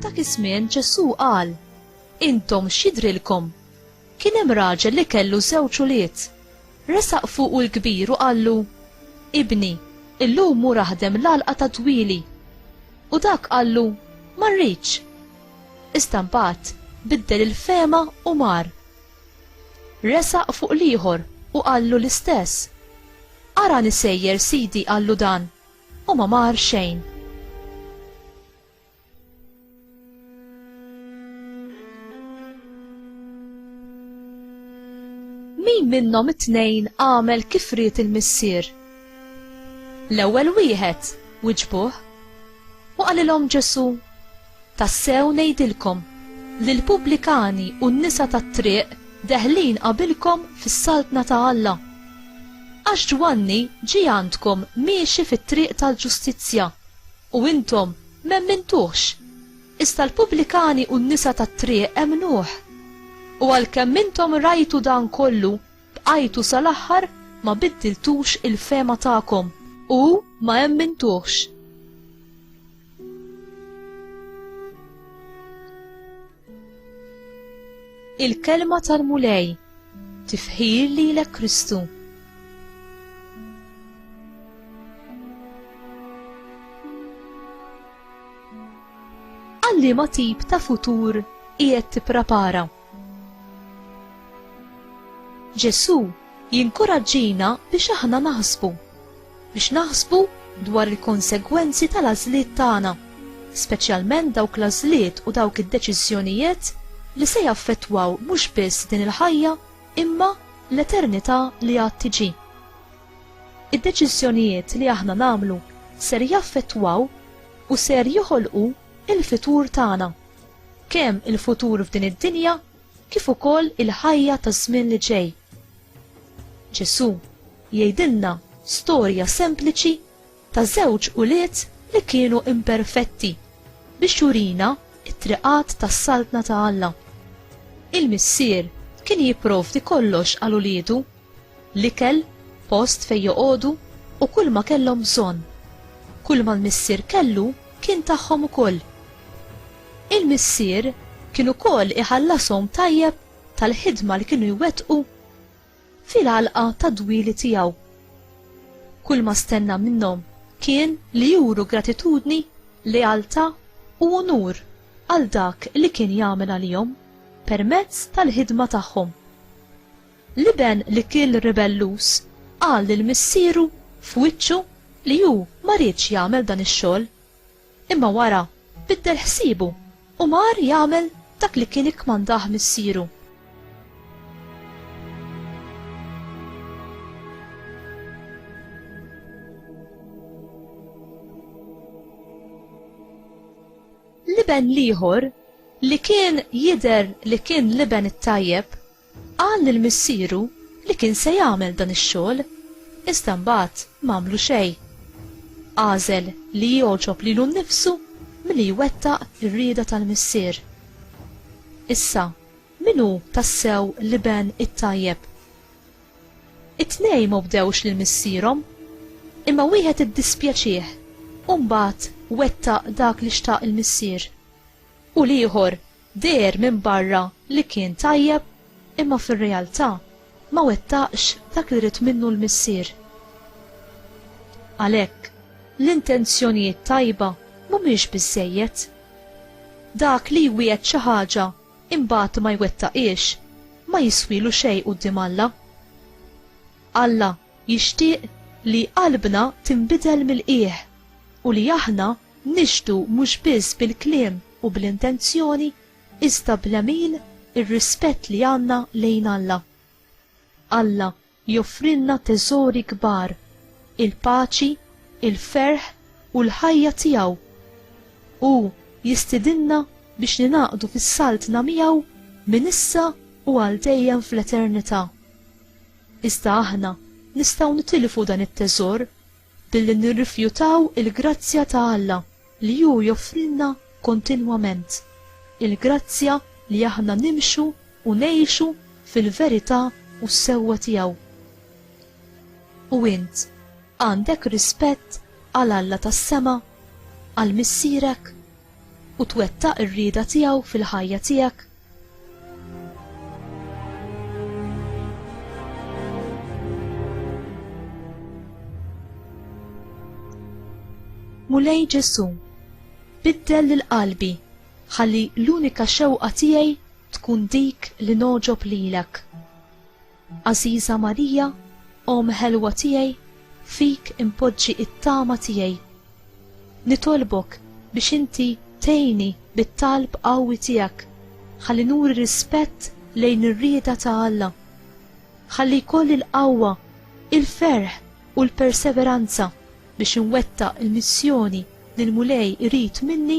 F'dak iż-żmien Ġesù qal, Intom x'jidrilkom? Kien hemm raġel li kellu żewġ ulied. Resaq fuqu l-kbir u qallu, Ibni, illum mur aħdem l-għalqa ta' dwieli. U dak qallu, Ma rridx. Iżda mbagħad biddel il-fehma u mar. Resaq fuq l-ieħor u qallu l-istess. Arani sejjer sidi qallu dan, u ma mar xejn. min minnhom it-tnejn għamel kif ried il-missier? L-ewwel wieħed, wiġbuh. U qalilhom Ġesu, Tassew ngħidilkom, li l-pubblikani u n-nisa tat-triq deħlin qabilkom fis-Saltna ta' Alla. Għax Ġwanni ġie għandkom miexi fit-triq tal-ġustizzja, u intom m'emmintuhx, iżda l-pubblikani u n-nisa tat-triq emmnuh. U għalkemm intom rajtu dan kollu, bqajtu sal-aħħar ma biddiltux il-fehma tagħkom, u ma emmintuhx. Il-kelma tal-Mulej tifħir li l Kristu. Għalli ma tip ta' futur qiegħed tipprepara. Ġesù jinkuraġġina biex aħna naħsbu, biex naħsbu dwar il-konsegwenzi tal-għażliet tagħna, speċjalment dawk l-għażliet u dawk id-deċiżjonijiet li se jaffettwaw mhux biss din il-ħajja imma l-eternità li għad tiġi. Id-deċiżjonijiet li aħna nagħmlu ser jaffettwaw u ser joħolqu il-fitur tagħna. Kemm il-futur f'din id-dinja kif ukoll il-ħajja taż-żmien li ġej. Ġesù jgħidilna storja sempliċi ta' żewġ ulied li kienu imperfetti biex jurina it-triqat tas-saltna ta' Alla. Il-missier kien jipprovdi kollox għal uliedu L-ikel, post fejn joqogħdu u kull ma kellhom bżonn. Kull ma l-missier kellu kien tagħhom ukoll. Il-missier kien ukoll iħallashom tajjeb tal-ħidma li kienu jwettqu fil-għalqa tad-dwieli tiegħu. Kull ma stenna minnhom kien li juru gratitudni, lealtà u unur għal dak li kien jagħmel għalihom permezz tal-ħidma tagħhom. L-iben l-ikiel ribelluż qal lil missieru f'wiċċu li hu ma riedx jagħmel dan ix-xogħol. Imma wara biddel ħsiebu u mar jagħmel dak li kien ikkmandah missieru. L-iben l-ieħor, li kien jidher li kien l-iben it-tajjeb, Qal lil missieru li kien se jagħmel dan ix-xogħol, iżda mbagħad m'għamlu xejn. Għażel li jogħġob lilu nnifsu milli jwettaq ir-rieda tal-Missier. Issa, min hu tassew l-iben it-tajjeb? It-tnejn ma wdewx lil missierhom, imma wieħed iddispjaċih u mbagħad wettaq dak li xtaq il-missier, u l-ieħor deher minn barra li kien tajjeb imma fir-realtà ma wettaqx dak li ried minnu l-Missier. Għalhekk, l-intenzjonijiet tajba mhumiex biżżejjed. Dak li jwiegħed xi ħaġa imbagħad ma jwettaqhiex ma jiswielu xejn quddiem Alla. Alla jixtieq li qalbna tinbidel mill-qiegħ u li aħna Nixhdu mhux biss bil-kliem u bl-intenzjoni iżda bl-għemil ir-rispett li għandna lejn Alla. Alla joffrilna teżori kbar, il-paċi, il-ferħ u l-ħajja tiegħu. Hu jistidinna biex ningħaqdu fis-Saltna miegħu minn issa u għal dejjem fl-eternità. Iżda aħna nistgħu nitilfu dan it-teżor billi nirrifjutaw il-grazzja ta' Alla li hu joffrilna kontinwament, il-grazzja li aħna nimxu u ngħixu fil-verità u s-sewwa tiegħu. U int, għandek rispett għal Alla tas-sema, għal Missierek? u twettaq ir-rieda tiegħu fil-ħajja tiegħek? Mulej Ġesu, biddel lil qalbi ħalli l-unika xewqa tiegħi tkun dik li noġob lilek. Għażiża Marija, Omm ħelwa tiegħi, fik inpoġġi t-tama tiegħi. Nitolbok biex inti tgħinni bit-talb qawwi tiegħek ħalli nuri rispett lejn ir-rieda ta' Alla. Ħalli jkolli l-qawwa, il-ferħ u l-perseveranza biex inwettaq il-missjoni li l-Mulej irid minni